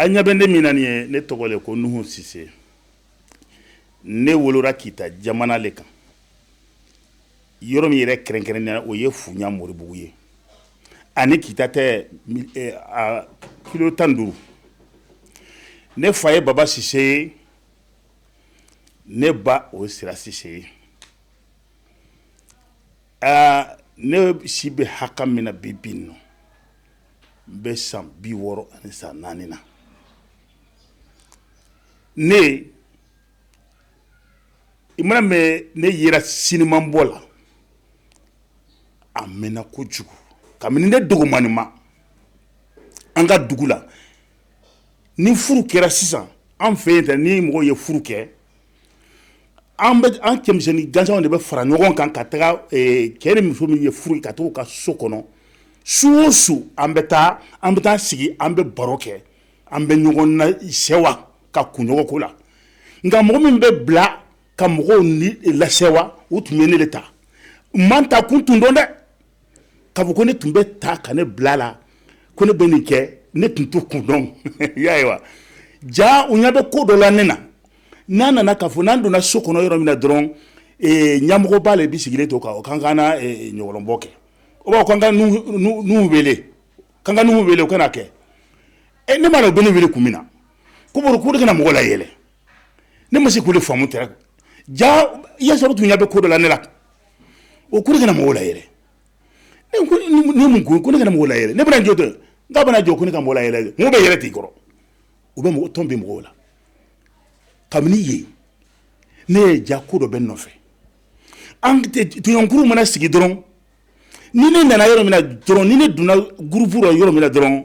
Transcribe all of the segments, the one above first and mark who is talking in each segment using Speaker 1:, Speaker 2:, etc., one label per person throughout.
Speaker 1: A ɲa bɛ ne min na nin ye ne tɔgɔ le ko nuhu sise ne wolora kita jamana le kan yɔrɔ min yɛrɛ kɛrɛnkɛrɛnnenya o ye funya moribugu ye a ni kita tɛ kilo tan ni duuru ne fa ye baba sise ye ne ba o ye sira sise ye aa ne si bɛ hakɛ min na bi bi in na n bɛ san bi wɔɔrɔ ani san naani na ne i man'a mɛn ne yera siniman bɔ la a mɛnna kojugu kabini ne dɔgɔmannin ma an ka dugu la ni furu kɛra sisan an fɛ yen tɛ ni mɔgɔ ye furu kɛ an an cɛmisɛnnin gansan de bɛ fara ɲɔgɔn kan ka taga cɛ ni muso min ye furu ka taa ka so kɔnɔ su o su an bɛ taa an bɛ taa sigi an bɛ baro kɛ an bɛ ɲɔgɔn nasewa ka kunɲɔgɔn ko la nka mɔgɔ min bɛ bila ka mɔgɔw ni lasewa u tun bɛ ne de ta n ma n ta kun tun dɔn dɛ k'a fɔ ko ne tun bɛ ta ka ne bila a la ko ne bɛ nin kɛ ne tun t'o kun dɔn y'a ye wa jaa u ɲa bɛ ko dɔ la ne na n'a nana k'a fɔ n'an donna so kɔnɔ yɔrɔ min na dɔrɔn ɲamɔgɔ b'a la bɛɛ sigilen to k'an k'an ka ɲɔgɔlɔnbɔ kɛ o b'a fɔ k'an ka nuhu wele k'an ka nuhu wele u ka n'a kɛ e ne m'a dɔn u bɛ ne wele kun min na ko ne ka na mɔgɔ layɛlɛ ne ma se k'o de faamu tɛ jaa i y'a sɔrɔ tun ɲɛ bɛ ko dɔ la ne la u ko ne ka na mɔgɔw layɛlɛ ne ko ni mun- ni mun ko ko ne ka na mɔgɔw layɛlɛ ne bɛna jɔ dɛ ne bɛna jɔ ko ne ka mɔgɔw layɛlɛ dɛ mɔgɔ bɛ yɛlɛ t'i kɔrɔ u bɛ mɔgɔ tɔn bɛ mɔgɔw la kabini yen ne ye jaa ko dɔ bɛ n nɔfɛ an tɛ- tɔɲɔgɔnkuru mana sigi dɔrɔn ni ne nana yɔrɔ min na dɔrɔn ni ne donna gurupu la yɔrɔ min na dɔrɔn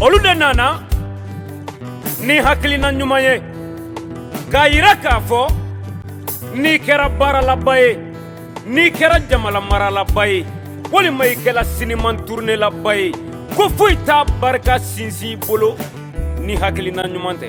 Speaker 2: olu de nana ni hakilina ɲuman ye k'a yira k'a fɔ n'i kɛra baaralaba ye n'i kɛra jamana maralaba ye walima i kɛra siniman turunelaba ye ko foyi t'a barika sinsin bolo ni hakilina ɲuman tɛ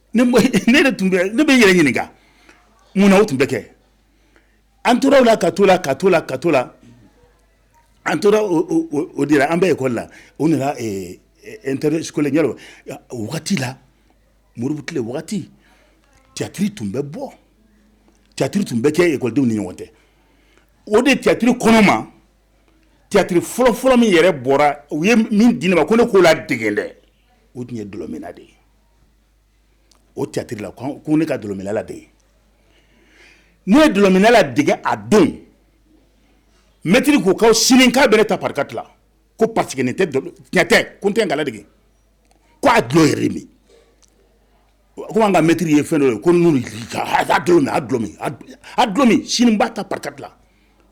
Speaker 1: ne bɛ n yɛrɛ ɲininka mun na o tun bɛ kɛ an tora o la ka to la ka to la ka to la an tora o de la an bɛ ekɔli la o nana n teri ɲɛ wagati la modibo tile wagati tiyatiri tun bɛ bɔ tiyatiri tun bɛ kɛ ekɔlidenw ni ɲɔgɔn tɛ o de tiyatiri kɔnɔ ma tiyatiri fɔlɔfɔlɔ min yɛrɛ bɔra u ye min di ne ma ko ne k'o la dege dɛ o tun ye dulɔminna de ye o tiyatiri la ko ne ka dɔlɔminla dege ne ye dɔlɔminla dege a don mɛtiri ko ka sini k'a bɛ ne ta par quatre la ko parce que tiɲɛ tɛ ko tɛ ga dege ko a dulɔ yɛrɛ min ko an ka mɛtiri ye fɛn ye ko dulɔ min sini n b'a ta par quatre la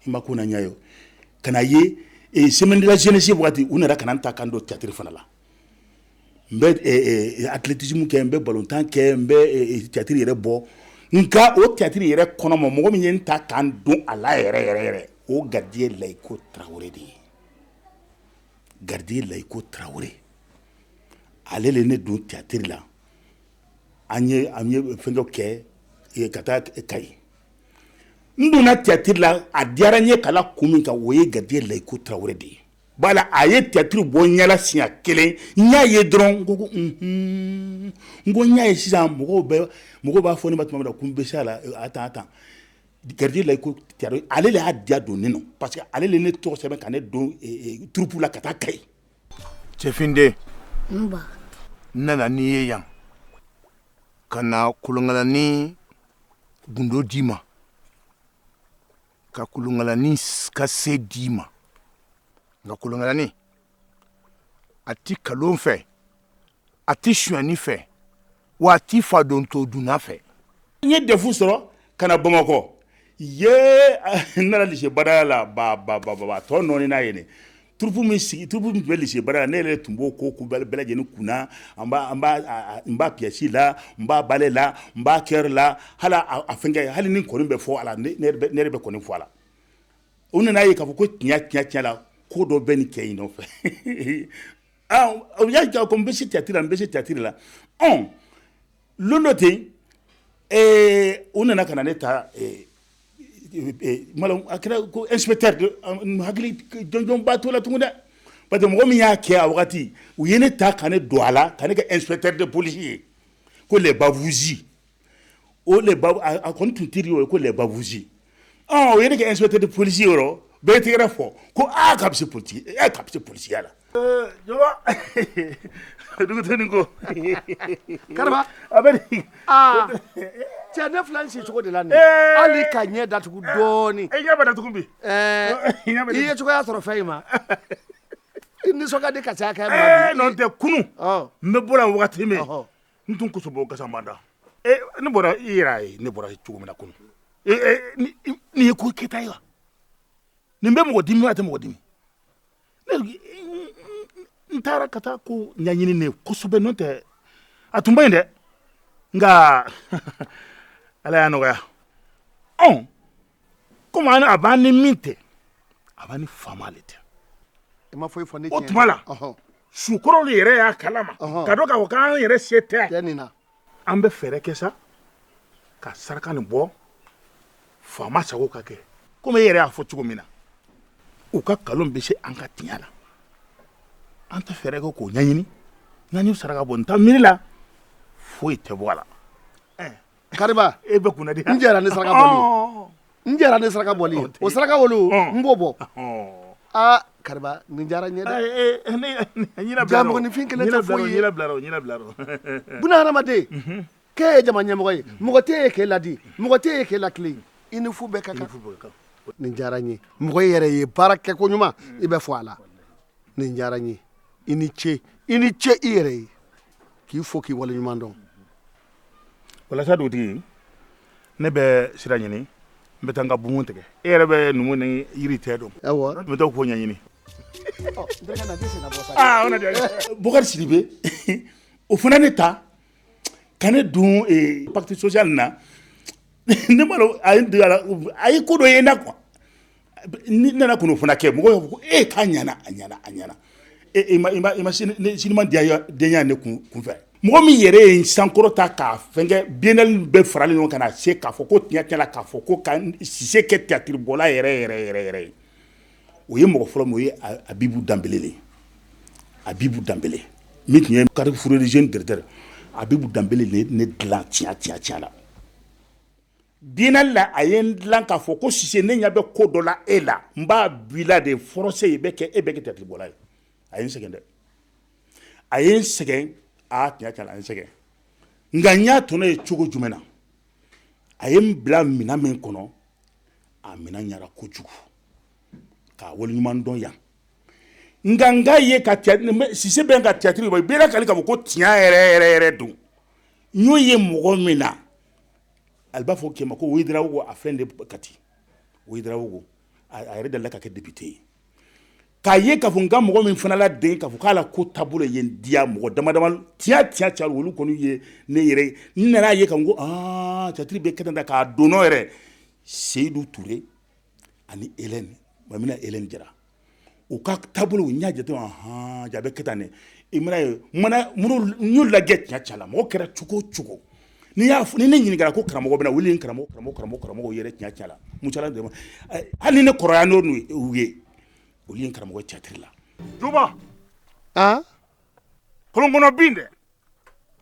Speaker 1: i ma ko na ɲa ye ka ye semaine de la jeunesse waati u nana ka n ta ka n don tiyatiri fana la n bɛ athlétisme kɛ n bɛ balontan kɛ n bɛ tiyatiri yɛrɛ bɔ nka o tiyatiri yɛrɛ kɔnɔ ma mɔgɔ min ye n ta ka n don a la yɛrɛ yɛrɛ yɛrɛ o gardien layiko tarawele de ye gardien layiko tarawele ale le ne don tiyatiri la an ye fɛn dɔ kɛ ka taa Kayi n donna tiyatiri la a diyara n ye kala kun min kan o ye gardien layiko tarawele de ye la a ye tiyatiri bɔ ɲɛ la siɲɛ kelen n y'a ye dɔrɔn n ko n ko n y'a ye sisan mɔgɔw bɛ mɔgɔ b'a fɔ ne ma tuma bɛɛ la ko n bɛ se a la attends attends gardien layiko ale le y'a diya don ne nɔ parce que ale le ne tɔgɔ sɛbɛn ka ne don troupe la ka taa Kayi
Speaker 3: cɛfin
Speaker 4: den
Speaker 3: nana n' ye yan ka na kolonkalani gundo d'i ma ka kolonkalani ka se d'i ma nka kolonkalani a ti kalon fɛ a ti suyani fɛ wa a ti fa don to dunna fɛ n ye
Speaker 1: defu sɔrɔ ka na bamakɔ ye n nana lise badala la ba ba ba ba tɔ nɔɔni n'a ye troupe min tun bɛ lise badala ne yɛrɛ tun b'o ko bɛɛ lajɛlen kunna n b'a pièce la n b'a ballet la n b'a chœur la hali a fɛ hali ni kɔni bɛ fɔ a la ne yɛrɛ bɛ kɔni fɔ a la u nana ye k'a fɔ ko tiɲɛ tiɲɛ tiɲɛ la ko dɔ bɛ nin cɛ in nɔfɛ u y'a jira ko n bɛ se tiyatiri n bɛ se tiyatiri la don dɔ ten u nana ka na ne taa hakiliba to la tuguni dɛ pa que mɔgɔ min y'a kɛ a waati u ye ne ta ka ne don a la ka ne kɛpte de polisi ye ko bafusi a ko tun tɛ o ye ko bafusi o ye ne kɛ inspecteur de police ye yɔrɔ bɛɛ tigɛra fɔ ko aa k'a bɛ se policiya ee k'a bɛ se policiya la. Ee jɔba duguteni ko kariba
Speaker 4: a bɛ di.
Speaker 1: aa
Speaker 4: cɛ ne filɛ n si cogo de la nin ye hali ka ɲɛ datugu dɔɔni. i ɲɛ bɛ datugu
Speaker 1: bi. ɛɛ
Speaker 4: i ye cogoya sɔrɔ fɛn in ma. i nisɔn ka di ka caya kɛ. ɛɛ n'o tɛ kunun
Speaker 1: n bɛ bɔ yan wagati min. n tun kosobɔ gasamada eh, ne bɔra i yɛrɛ y'a ye ne bɔra cogo min na kunu eh, eh, nin ye ko kɛta ye wa nin bɛ mɔgɔ dimi a tɛ mɔgɔ dimi n taara ka taa ko ɲaɲini ne kosɛbɛ n'o tɛ a tun bɛ yen dɛ nka ala y'a nɔgɔya ɔn komi a b'an ni min tɛ a b'an ni faama le
Speaker 4: tɛ o tuma
Speaker 1: la sukɔrɔlu yɛrɛ y'a kalama k'a dɔn k'a fɔ k'an yɛrɛ se tɛ an bɛ fɛɛrɛ kɛ sa ka saraka nin bɔ faama sago ka kɛ komi e yɛrɛ y'a fɔ cogo min na u ka nkalon bɛ se an ka tiɲɛ la an tɛ fɛɛrɛ kɛ k'o ɲɛɲini n'an y'u saraka bɔ n ta miiri la foyi tɛ bɔ a la
Speaker 4: Kariba e bɛ kun
Speaker 1: di n jɛra ni
Speaker 4: saraka n jɛra ni saraka bɔ o saraka olu n b'o bɔ aa Kariba nin diyara n ye dɛ mɔgɔninfin kelen tɛ foyi ye buna hadamaden k'e ye jama ɲɛmɔgɔ ye mɔgɔ tɛ ye k'e ladi mɔgɔ tɛ ye k'e lakili i ni fu bɛɛ ka kan nin diyara n ye mɔgɔ yɛrɛ ye baara kɛ ko ɲuman i bɛ fɔ a la nin diyara n ye i ni ce i ni ce i yɛrɛ ye k'i fo k'i wale ɲuman
Speaker 1: dɔn walasa dugutigi ne bɛ sira ɲini n bɛ taa n ka bumu tigɛ e yɛrɛ bɛ numu ni yiri tɛ dɔn n bɛ taa k'o ɲɛɲini Bokari Sidibe o fana ne ta ka ne don pacte social na ne m'a lɔn a ye ko dɔ ye na qu Ne nana o fana kɛ mɔgɔ ko e k'a ɲana a ɲ a ɲɛna e ma siniman diya denya de kun kunfɛ mɔgɔ min yɛrɛ ye sankɔrɔta k'a fɛnkɛ biennale bɛɛ faralen ɲɔgɔn kan na se k'a fɔ ko tiɲɛ la k'a fɔ ko Sise kɛ tiyatiribɔla yɛrɛ yɛrɛ yɛrɛ yɛrɛ ye o ye mɔgɔ fɔlɔ ye Abibu Danbele Abibu Danbele min tun ye Carrefour des jeunes directeur Abibu Danbele ne dilan tiɲɛ tiɲɛ la Biennale la a ye n dilan k'a fɔ ko Sise ne ɲɛ bɛ ko dɔ la e la n b'a b'i la de force e bɛ kɛ e bɛ kɛ tiyatiribɔla ye a ye n sɛgɛn dɛ a ye n sɛgɛn aa tiɲɛ tiɲɛ a ye n sɛgɛn nka n y'a tɔnɔ ye cogo jumɛn na a ye n bila minɛn min kɔnɔ a minɛn ɲɛna kojugu k'a wale ɲuman dɔn yan nka n k'a ye ka Sise bɛ ka tiyatiri bɔ i bɛɛ k'ale ka ko tiɲɛ yɛrɛ yɛrɛ yɛrɛ don n y'o ye mɔgɔ min na ale b'a fɔ kɛ ma ko Ouédraogo a fɛn de Kati Ouédraogo a yɛrɛ delila ka kɛ depite ye k'a ye k'a fɔ nka mɔgɔ min fana la den k'a fɔ k'a la ko taabolo ye n diya mɔgɔ damadama tiɲɛ tiɲɛ ca olu kɔni ye ne yɛrɛ n nana a ye k'a fɔ ko aa tiyatiri bɛ kɛ tan k'a don n nɔ yɛrɛ Seyidu Ture ani Hélène Maïmouna Hélène Jara u ka taabolo n y'a jate hɔn ja a bɛ kɛ tan i mana ye n y'u lajɛ tiɲɛ tiɲɛ la mɔgɔ kɛra cogo o cogo n'i y'a fɔ ni ne ɲininkara ko karamɔgɔ bɛna wuli karamɔgɔ karamɔgɔ karamɔgɔ yɛrɛ tiɲɛ tiɲɛ la mu hali ni ne kɔrɔ n'u ye olu ye karamɔgɔ tiyatiri la duba kɔlɔn kɔnɔ bin dɛ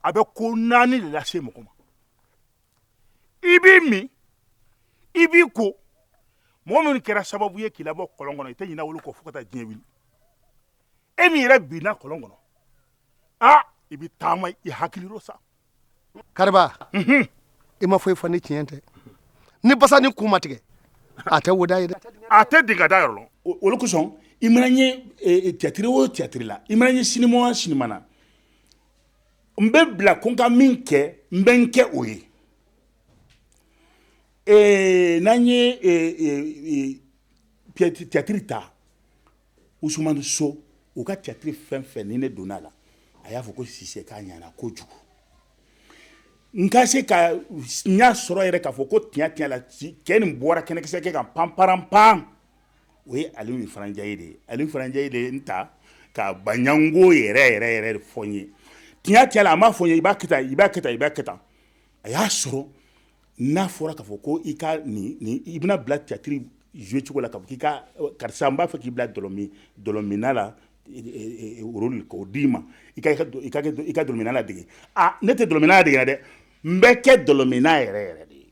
Speaker 1: a bɛ ko naani de lase mɔgɔ ma i b'i min i b'i ko mɔgɔ minnu kɛra sababu ye k'i labɔ kɔlɔn kɔnɔ i tɛ ɲinɛ olu kɔ fo ka taa diɲɛ wuli e min yɛrɛ binna kɔlɔn kɔnɔ aa i bɛ taama i hakili rɔ sa
Speaker 4: kariba mhm. i ma foyi fɔ ni tiɲɛ tɛ ni basanin
Speaker 1: ku
Speaker 4: ma tigɛ a tɛ wo
Speaker 1: da ye dɛ
Speaker 4: a tɛ dinga
Speaker 1: da yɔrɔ
Speaker 4: lɔn o
Speaker 1: le kosɔn
Speaker 4: i
Speaker 1: mana ye e, e, tiyatiri o tiyatiri la i mana ye sinima o sinima na n bɛ bila ko n ka min kɛ n bɛ n kɛ o ye n'an ye tiyatiri ta usumani so u ka tiyatiri fɛn fɛn ni ne donna a la a y'a fɔ ko sise k'a ɲana kojugu n ka se ka n y'a sɔrɔ yɛrɛ k'a fɔ ko tiɲɛ tiɲɛ la cɛ nin bɔra kɛnɛkisɛ kɛ ka pan pan pan o ye aliyu ifara njayi de aliyu ifara njayi de ye n ta ka baɲango yɛrɛ yɛrɛ yɛrɛ de fɔ n ye tiɲɛ tiɲɛ la a m'a fɔ i b'a kɛ i b'a kɛ i b'a kɛ a y'a sɔrɔ n'a fɔra k'a fɔ ko i ka i bɛna bila tiyatiri zuwe cogo la ka i ka karisa n b'a fɛ k'i bila dɔlɔminna la rɔli k'o d'i ma i ka dɔlɔminna ladege ne tɛ dɔlɔminna ladege dɛ n bɛ kɛ dɔlɔminna yɛrɛ yɛrɛ de ye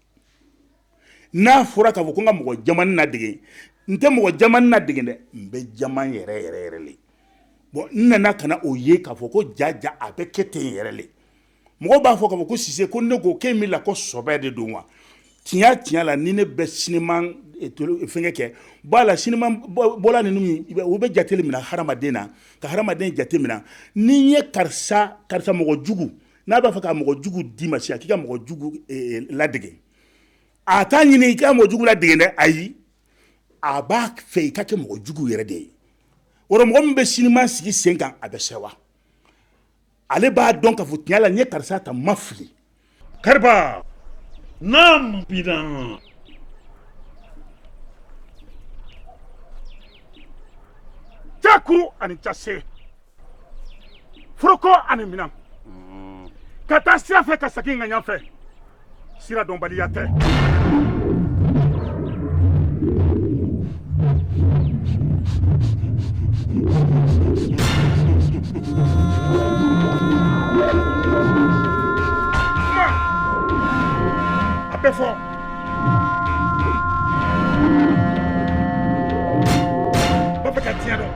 Speaker 1: n'a fɔra k'a fɔ ko n ka mɔgɔ jamanin ladege n tɛ mɔgɔ jamanin ladege dɛ n bɛ jama yɛrɛ yɛrɛ yɛrɛ le bɔn n nana ka na o ye k'a fɔ ko ja ja a bɛ kɛ ten yɛrɛ le mɔgɔ b'a fɔ k'a fɔ ko sise ko ne ko k'e min la ko sɔbɛ de don wa tiɲɛ tiɲɛ la ni ne bɛ sinima eh, eh, fɛngɛ kɛ la sinima bɔla ninnu u bɛ jate minɛ hadamaden na ka hadamaden jate minɛ ni n ye karisa karisa mɔgɔ jugu n'a b'a fɛ ka mɔgɔ jugu d'i ma sisan k'i ka mɔgɔ jugu eh, ladege a t'a ɲini i ka mɔgɔ jugu ladege dɛ ayi a b'a fɛ i ka kɛ mɔgɔ jugu yɛrɛ de ye o mɔgɔ min bɛ sinima sigi sen kan a bɛ sɛwa ale b'a dɔn k'a fɔ tiɲɛ la n ye karisa ta ma fili
Speaker 5: kariba naamu
Speaker 1: bina jakuru ani ta se foroko ani minan ka taa sira fɛ ka segin ŋaɲa fɛ sira dɔnbaliya tɛ a bɛ fɔ b'a fɛ ka tiɲɛ dɔn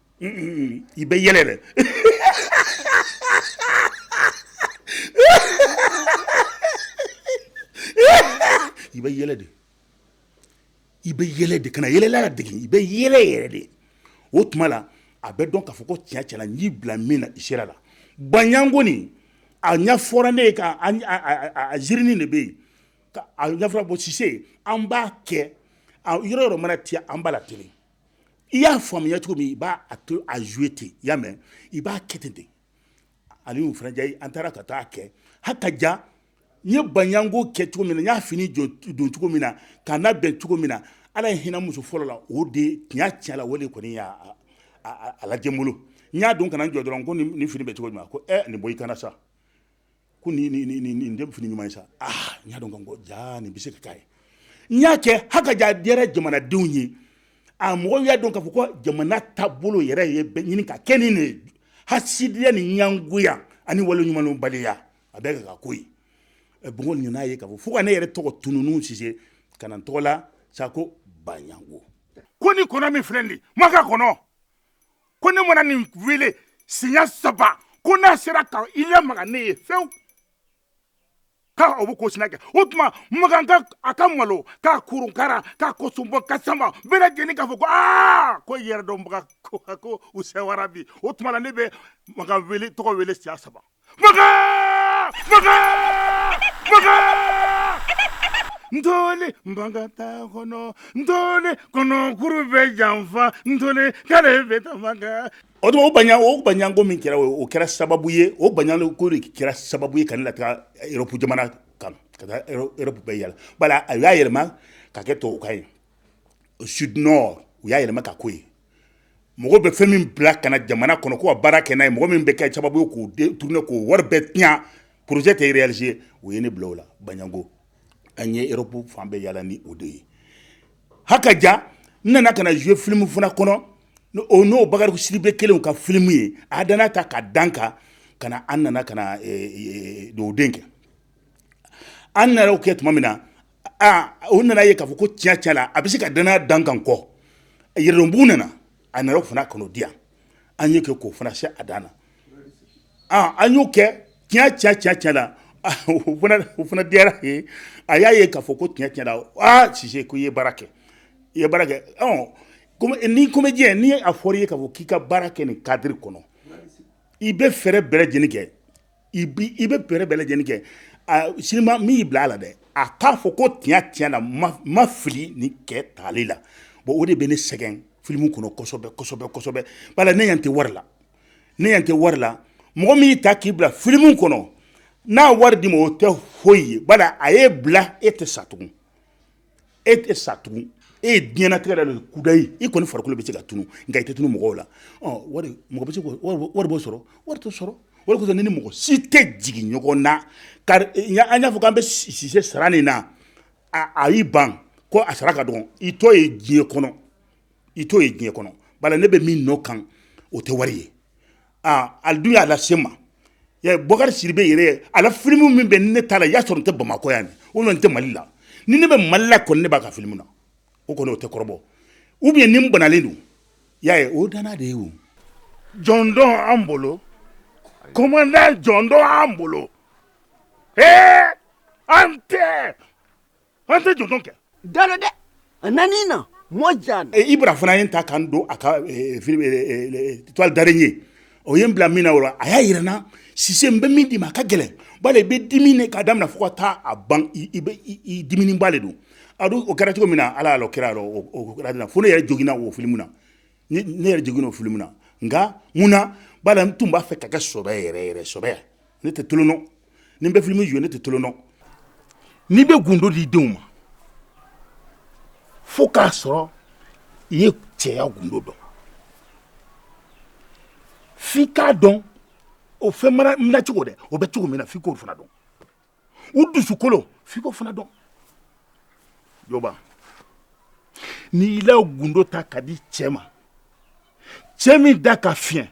Speaker 1: i bɛ yɛlɛ dɛ i bɛ yɛlɛ de i bɛ yɛlɛ de kana yɛlɛla ladege i bɛ yɛlɛ yɛrɛ de o tuma la a bɛ dɔn k'a fɔ ko tiɲɛ tiɲɛ la n y'i bila min na i sera la baɲango nin a ɲɛfɔra ne ye ka ziririnin de bɛ yen a ɲɛfɔra ko sise an b'a kɛ yɔrɔ yɔrɔ mana tiɲɛ an b'a latilen i y'a faamuya cogo min i b'a to a jouer ten i y'a mɛn i b'a kɛ ten de Aliyu Ifra Njayi an taara ka taa kɛ hakaja n ye baɲango kɛ cogo min na n y'a fini don cogo min na k'a labɛn cogo min na ala ye hinɛ n muso fɔlɔ la o de tiɲɛ tiɲɛ la o de kɔni y'a lajɛ n bolo n y'a don ka na n jɔ dɔrɔn ko nin fini bɛ cogo min na ko ɛ nin bɔ i kan na sa ko nin nin nin nin nin tɛ fini ɲuman ye sa ah n y'a dɔn ko jaa nin bɛ se ka k'a ye n y'a kɛ hakaja a diyara jamanadenw ye a mɔgɔw y'a dɔn k'a fɔ ko jamana taabolo yɛrɛ ye bɛ ɲini ka kɛ nin de ye hasidiya ni ɲangoya ani waleɲumandɔnbaliya a bɛɛ ka ka ko ye ɛ bongo nana ye k'a fɔ fo ka ne yɛrɛ tɔgɔ tununu sise ka na n tɔgɔ la sa ko baɲango ko ni kɔnɔ min filɛ nin ye maka kɔnɔ ko ne mana nin wele siɲɛ saba ko n'a sera ka i lamaga ne ye fewu k'a o bɛ ko sina kɛ o tuma makan a ka malo k'a kurunkara k'a kosunbɔ ka sama bɛɛ lajɛlen k'a fɔ ko aa ko yɛrɛdɔnbaga ko ko u sɛwara bi o tuma na ne bɛ makan wele tɔgɔ wele siɲɛ saba Maka! Maka! Maka! Ntɔli bagata kɔnɔ ntɔli kɔnɔ kuru bɛ janfa ntɔli ka bɛ kɛ o tuma o ba o baɲango min kɛra o o kɛra sababu ye o baɲango de kɛra sababu ye ka ne lataa Europe jamana kan ka Europe bɛɛ yala bala a y'a yɛlɛma ka kɛ tubabukan ye o sud nord u y'a yɛlɛma ka k'o ye mɔgɔ bɛ fɛn min bila ka na jamana kɔnɔ ko ka baara kɛ ye mɔgɔ min bɛ kɛ sababu ye k'o tourner k'o wari bɛɛ tiɲɛ projet tɛ réaliser o ye ne bila o la baɲango an ye Europe fan bɛɛ yala ni o de ye hakaja n nana ka na jouer filimu fana kɔnɔ o n'o bakari sidibe kelen ka filimu ye a dan ta ka dan kan ka na an nana ka na dugawuden kɛ an nana o kɛ tuma min na aa u nana ye k'a fɔ ko tiɲɛ tiɲɛ la a bɛ se ka danaya da n kan kɔ yɛrɛdɔnbugu nana a nana o fana kɔnɔ di yan an y'o kɛ k'o fana se a dan na aa an y'o kɛ tiɲɛ tiɲɛ tiɲɛ tiɲɛ la o fana o fana diyara a ye a y'a ye k'a fɔ ko tiɲɛ tiɲɛ la aa Sise ko i ye baara kɛ i ye baara kɛ ɔ comme ni comédien ni a fɔra i ye k'a fɔ k'i ka baara kɛ nin cadre kɔnɔ i bɛ fɛɛrɛ bɛɛ lajɛlen kɛ i bɛ fɛɛrɛ bɛɛ lajɛlen kɛ sinima min y'i bila a la dɛ a k'a fɔ ko tiɲɛ tiɲɛ la n ma fili nin kɛ tali la bon o de bɛ ne sɛgɛn filimu kɔnɔ kosɛbɛ kosɛbɛ kosɛbɛ bala ne ɲa tɛ wari la ne ɲa tɛ wari la mɔgɔ min y'i ta k'i bila filimu kɔnɔ n'a wari d'i ma o tɛ foyi ye bala a ye bila e tɛ sa tugun e tɛ sa tugun e ye diɲɛnatigɛ la don kudayi i kɔni farikolo bɛ se ka tunu nka i tɛ tunu mɔgɔw la wari b'o sɔrɔ wari t'o sɔrɔ wari ni mɔgɔ si tɛ jigin ɲɔgɔn na kari an y'a fɔ k'an bɛ sise sara nin na a y'i ban ko a sara ka dɔgɔn i t'o ye diɲɛ kɔnɔ i t'o ye diɲɛ kɔnɔ bala ne bɛ min nɔ kan o tɛ wari ye a dun y'a lase n ma bokari sidibe yɛrɛ a la filimu min bɛ ni ne t'a la i y'a sɔrɔ n tɛ bamakɔ yan o n tɛ mali la ni ne bɛ mali la kɔni ne b'a ka filimu na o kɔni o tɛ kɔrɔbɔ ou bien ni n banalen don y'a ye o danna de ye
Speaker 5: jɔndɔn an bolo commandant jɔndɔn an bolo an tɛ an tɛ jɔn kɛ da
Speaker 6: dɛ a nan na mɔ ja ibra fana ye n
Speaker 1: ta ka n don a ka toile d'araignée o ye n bila min na a y'a jira n na sise n bɛ min d'i ma a ka gɛlɛn bala i bɛ dimi k'a daminɛ fo ka taa a ban dimiba de don a dun o kɛra cogo min na ala kɛra kɛra fo ne yɛrɛ joginna o filimu na ne yɛrɛ joginna o filimu na nka mun na bala n tun b'a fɛ k'a kɛ sɔbɛ yɛrɛ yɛrɛ sɔbɛ ne tɛ tolon dɔn ni n bɛ filimu jouer ne tɛ tolon dɔn n'i bɛ gundo di denw ma fo k'a sɔrɔ i ye cɛya gundo dɔn f'i k'a dɔn o fɛn mara nacogo dɛ o bɛ cogo min na f'i k'o fana dɔn u dusukolo f'i k'o fana dɔn jɔba n'i y'i la gundo ta k'a di cɛ ma cɛ min da ka fiyɛn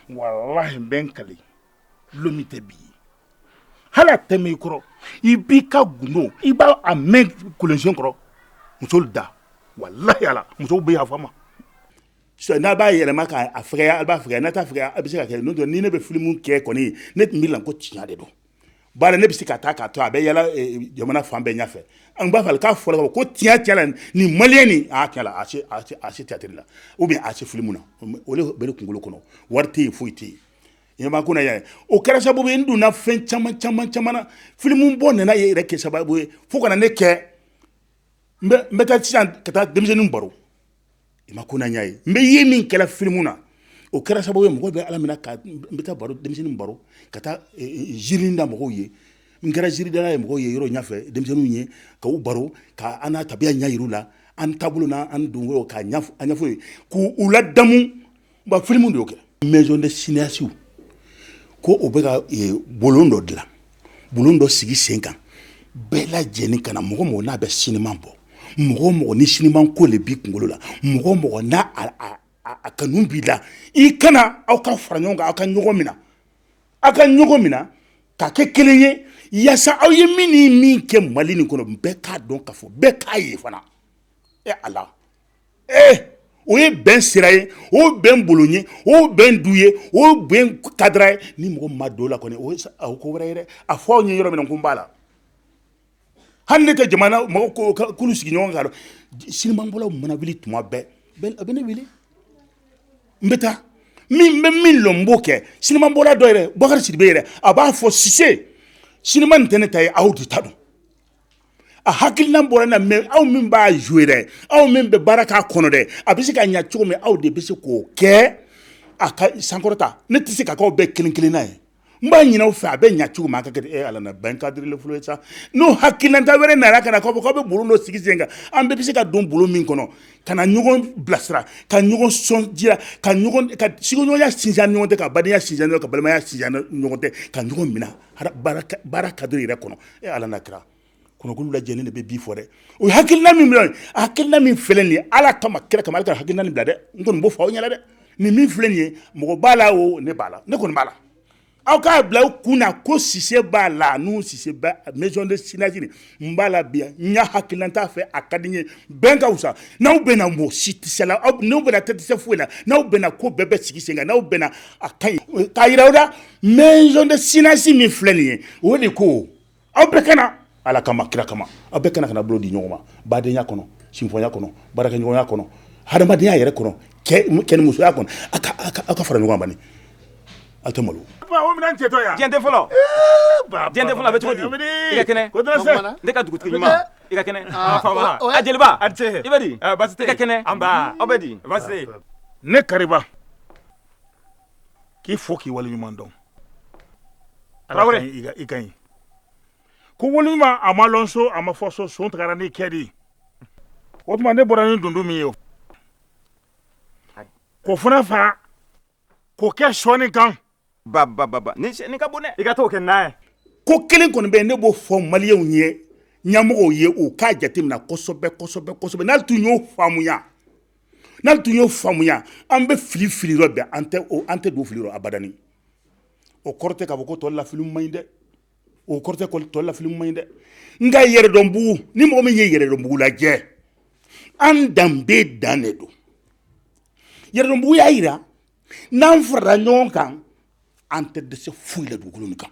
Speaker 1: walahi n bɛ n kali lon min tɛ bi ye hali a tɛ mɛn i kɔrɔ i b'i ka gundo i b'a mɛn kolonsen kɔrɔ musolu da walahi ala musow bɛ yafa n ma n'a b'a yɛlɛma k'a fɛgɛya a b'a fɛgɛya n'a t'a fɛgɛya a bɛ se ka kɛ don ni ne bɛ filimu kɛ kɔni ne tun bɛ la ko tiɲɛ de don bari ne bɛ se ka taa k'a to a bɛ yala jamana fan bɛɛ ɲɛfɛ an b'a fɛ k'a fɔ ko tiɲɛ la ni maliyɛn ni a se théâtre la ou bien a se filimu na o le bɛ ne kunkolo kɔnɔ wari tɛ yen foyi tɛ yen ɲama ko yan o kɛra sababu ye n donna fɛn caman caman caman filimu bɔ nana ye yɛrɛ kɛ sababu ye fo ka na ne kɛ n bɛ taa sisan ka taa denmisɛnnin baro i ma ko na y'a ye n bɛ ye min kɛra filimu na o kɛra sababu ye mɔgɔ bɛ ala minɛ ka n bɛ taa baro denmisɛnnin baro ka taa e, e, ziiri da mɔgɔw ye n kɛra ziiridala ye mɔgɔw ye yɔrɔ ɲɛfɛ denmisɛnninw ye ka u baro ka an na tabiya ɲɛ yir'u la an taabolo na an don k'a ɲɛfɔ ye k'u ladamu Ba filimu de y'o kɛ maison de cinéastes ko o bɛ ka bulon dɔ dilan bulon dɔ sigi sen kan bɛɛ lajɛlen ka na mɔgɔ mɔgɔ n'a bɛ sinima bɔ mɔgɔ mɔgɔ ni sinima ko le b'i kunkolo la mɔgɔ mɔgɔ n'a a kanu b'i la i ka na aw ka fara ɲɔgɔn kan aw ka ɲɔgɔn mina aw ka ɲɔgɔn mina ka kɛ kelen ye yaasa aw ye min ni min kɛ mali nin kɔnɔ bɛɛ k'a dɔn k'a fɔ bɛɛ k'a ye fana ala ee o ye bɛn sira ye o bɛn bolo ye o bɛn du ye o bɛn cadre ye ni mɔgɔ ma don la kɔni o ye ko wɛrɛ ye dɛ a fɔ aw ɲɛ yɔrɔ min ko n b'a la hali ne ka jamana mɔgɔkulu sigi ɲɔgɔn kan sinimabɔlaw mana wuli tuma bɛɛ a bɛ ne wele n bɛ taa min bɛ min lɔn n b'o kɛ sinimabɔla dɔ yɛrɛ bakari sidibe yɛrɛ a b'a fɔ sise sinima nin tɛ ne ta ye aw de ta don a hakilina bɔra n na mɛ aw min b'a jouer dɛ aw min bɛ baara k'a kɔnɔ dɛ a bɛ se ka ɲɛ cogo min aw de bɛ se k'o kɛ a ka sankɔrɔta ne tɛ se k'aw bɛɛ kelen kelenna ye n b'a ɲini aw fɛ a bɛ ɲɛ cogo min a ka kɛ ala bɛn cadre fɔlɔ ye sa n'o hakilinata wɛrɛ nana ka na k'a fɔ k'a bɛ bulon dɔ sigi sen kan an bɛɛ bɛ se ka don bulon min kɔnɔ ka na ɲɔgɔn bilasira ka ɲɔgɔn sɔn jira ka sigiɲɔgɔnya sinsin ɲɔgɔn tɛ ka badenya sinsin ka balimaya sinsin ɲɔgɔn tɛ ka ɲɔgɔn minɛ baara cadre yɛrɛ kɔnɔ e ala na kira kɔnɔkulu lajɛlen de bɛ bi fɔ dɛ o hakilina min bila hakilina min filɛ nin ye ala kama kira kama ka hakilina nin bila dɛ n kɔni b'o fɔ aw ɲɛna dɛ nin min filɛ nin ye mɔgɔ b'a la o ne b'a la ne kɔni b'a la aw k'a bila aw kun na ko sise b'a la n'u sise bɛ maison de cinéastes n b'a la bi n y'a hakilinata fɛ a ka di n ye bɛn ka fisa n'aw bɛnna mɔgɔ si tɛ s'aw la n'aw bɛnna aw tɛ dɛsɛ foyi la n'aw bɛnna ko bɛɛ bɛ sigi sen kan n'aw bɛnna a ka ɲi k'a yira aw la maison de cinéastes min filɛ nin ye o le ko aw bɛɛ ka na ala kama kira kama aw bɛɛ ka na ka na bolo di ɲɔgɔn ma badenya kɔnɔ sinfoya kɔnɔ baarakɛɲɔgɔnya kɔnɔ hadamadenya yɛrɛ kɔnɔ kɛ ni musoya kɔnɔ aw ka fara ɲɔgɔn kan A tɛ malo minɛn cɛtɔ
Speaker 5: yan jɛden
Speaker 2: fɔlɔ jɛde fɔlɔ bɛ cogo di i ka kɛnɛ ne ka dugutigi i ka kɛnɛ jeliba a ce i bɛ di basi tɛ i ka kɛnɛ aw bɛ di basi tɛ ne
Speaker 5: kariba k'i fo k'i wale ɲuman dɔn tarawele i ka ɲi ko wale ɲuman a ma dɔn so a ma fɔ so son taara n'i kɛ de o tuma ne bɔra ni dunun min ye o ko fana fa k'o kɛ sɔɔni kan
Speaker 2: bababa ni ka bon dɛ i ka to kɛ n'a ye ko kelen kɔni bɛ
Speaker 1: yen ne b'o fɔ maliyɛnw ye ɲɛmɔgɔw ye u k'a jateminɛ kosɛbɛsɛbɛsɛbɛ n'a tun y'o faamuya n'a tun y'o faamuya an bɛ fili fili yɔrɔ bɛɛ an tɛ an tɛ don fili yɔrɔ abadani o kɔrɔ tɛ k'a fɔ ko tɔ la filimu man ɲi dɛ o kɔrɔ tɛ ko tɔ la filimu man ɲi dɛ nka yɛrɛdɔnbugu ni mɔgɔ min ye yɛrɛdɔnbugu lajɛ an danbe dan de don yɛrɛdɔnbugu y'a yira n'an farala ɲɔgɔn kan an tɛ dɛsɛ foyi la dugukolo nin kan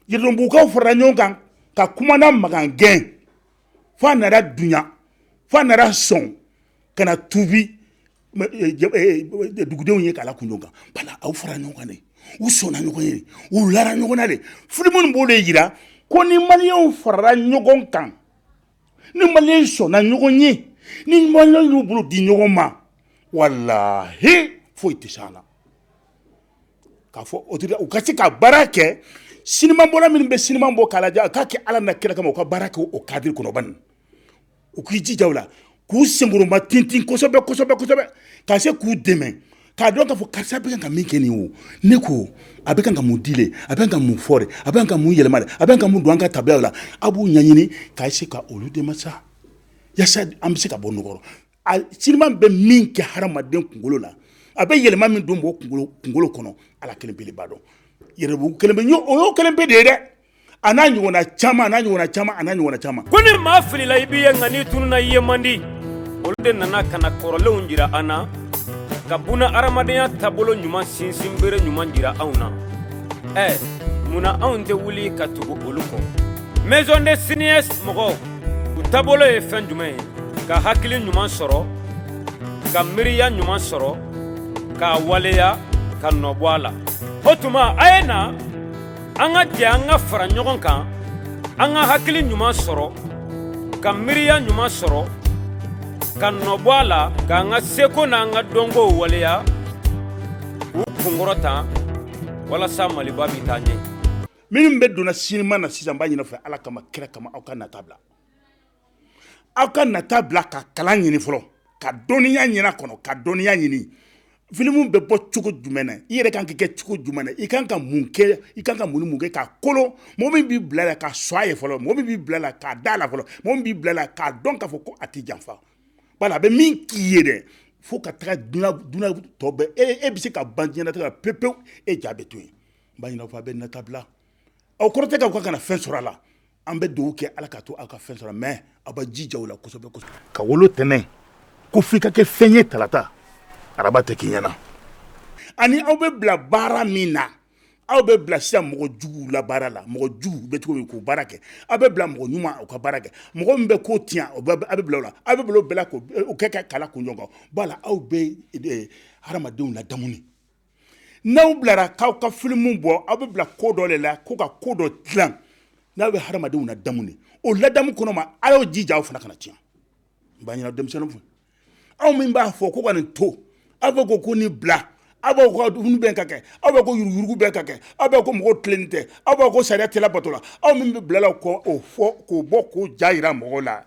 Speaker 1: yɛrɛdɔnbugukaw farala ɲɔgɔn kan ka kumana makan gɛn fo a nana dunya fo a nana sɔn ka na tubi dugudenw ye k'a la kun dɔ kan bala aw farala ɲɔgɔn kan de u sɔnna ɲɔgɔn ye u lara ɲɔgɔn na de filimu nin b'o de jira ko ni maliyɛnw farala ɲɔgɔn kan ni maliyɛn sɔnna ɲɔgɔn ye ni maliyɛn y'u bolo di ɲɔgɔn ma walahi foyi tɛ s'a la k'a fɔ o u ka se ka baara kɛ sinima bɔla minnu bɛ sinima bɔ k'a lajɛ k'a kɛ ala n'a kira kama u ka baara kɛ o kadiri kɔnɔ bani u k'i jija la k'u senkɔrɔma tintin kosɛbɛ ka se k'u dɛmɛ k'a dɔn k'a fɔ karisa bɛ ka min kɛ nin o ne ko a bɛ ka mun di a bɛ ka mun fɔ a bɛ ka mun yɛlɛma a bɛ ka mun don an ka tabiyaw la a b'u ɲɛɲini ka se ka olu dɛmɛ sa yasa an bɛ se ka bɔ nɔgɔ rɔ sinima bɛ min kɛ hadamaden kunkolo la a bɛ yɛlɛma min don kunkolo kɔnɔ ala kelen de b'a dɔn yɛrɛdɔnbugu kelen o ye o kelen pe de ye dɛ a n'a ɲɔgɔnna caman n'a ɲɔgɔnna caman a ɲɔgɔnna caman ko ni
Speaker 2: maa filila i b'i ye nka n'i tununna i ye man di olu de nana ka na kɔrɔlenw jira an na ka buna hadamadenya taabolo ɲuman sinsin bere ɲuman jira anw na ɛ munna anw tɛ wuli ka tugu olu kɔ maison des cinéastes mɔgɔw u taabolo ye fɛn jumɛn ye ka hakili ɲuman sɔrɔ ka miiriya ɲuman sɔrɔ k'a waleya ka nɔ bɔ a la o tuma a ye na an ka jɛ an ka fara ɲɔgɔn kan an ka hakili ɲuman sɔrɔ ka miiriya ɲuman sɔrɔ ka nɔbɔ a la k'an ka seko n'an ka dɔnko waleya k'u kunkɔrɔta walasa maliba bɛ taa ɲɛ minnu bɛ don
Speaker 1: na sinima na sisan n b'a ɲin'a fɛ Ala kama kira kama aw ka nata bila aw ka nata bila ka kalan ɲini fɔlɔ ka dɔnniya ɲini a kɔnɔ ka dɔnniya ɲini filimu bɛ bɔ cogo jumɛn i yɛrɛ kan k'i kɛ cogo jumɛn i kan ka mun kɛ i kan ka mun kɛ ka kolon mɔgɔ min b'i bila la ka sɔn a ye fɔlɔ mɔgɔ min b'i bila la ka da a la fɔlɔ mɔgɔ min b'i bila la k'a dɔn k'a fɔ ko a tɛ janfa bala a bɛ min k'i ye dɛ fo ka taga tɔ e e bɛ se ka ban diɲɛ na pe pewu e ja bɛ to yen n b'a ɲini aw fɛ a bɛ nata bila o kɔrɔ tɛ k'aw ka kana fɛn sɔrɔ a la an bɛ dugawu kɛ ala ka to aw ka fɛn sɔrɔ mɛ aw bɛ jija o la kosɛbɛ ka wolo
Speaker 5: tɛnɛn ko f'i ka kɛ fɛn ye talata araba tɛ k'i ɲɛna ani
Speaker 1: aw bɛ bila baara min na aw bɛ bila siya mɔgɔ jugu la baara la mɔgɔ jugu bɛ cogo min k'o baara kɛ aw bɛ bila mɔgɔ ɲuman aw ka baara kɛ mɔgɔ min bɛ ko tiɲɛ aw bɛ bila la aw bɛ bila bila kɛ ka kala kunɲɔgɔn b'a la aw bɛ hadamadenw ladamu n'aw bilara k'aw ka filimu bɔ aw bɛ bila ko dɔ de la ko ka ko dɔ dilan n'aw bɛ hadamadenw ladamu ni o ladamu kɔnɔ ma aw y'o jija aw fana kana tiɲɛ n b'a ɲini denmisɛnninw fɛ aw min b'a fɔ ko ka nin to aw bɛ ko ko nin bila aw bɛ ko dumuni bɛ ka kɛ aw bɛ ko yuruguyurugu bɛ ka kɛ aw bɛ ko mɔgɔw tilennen tɛ aw bɛ ko sariya tɛ labato la aw min bɛ bila la k'o fɔ k'o bɔ k'o ja jira mɔgɔw la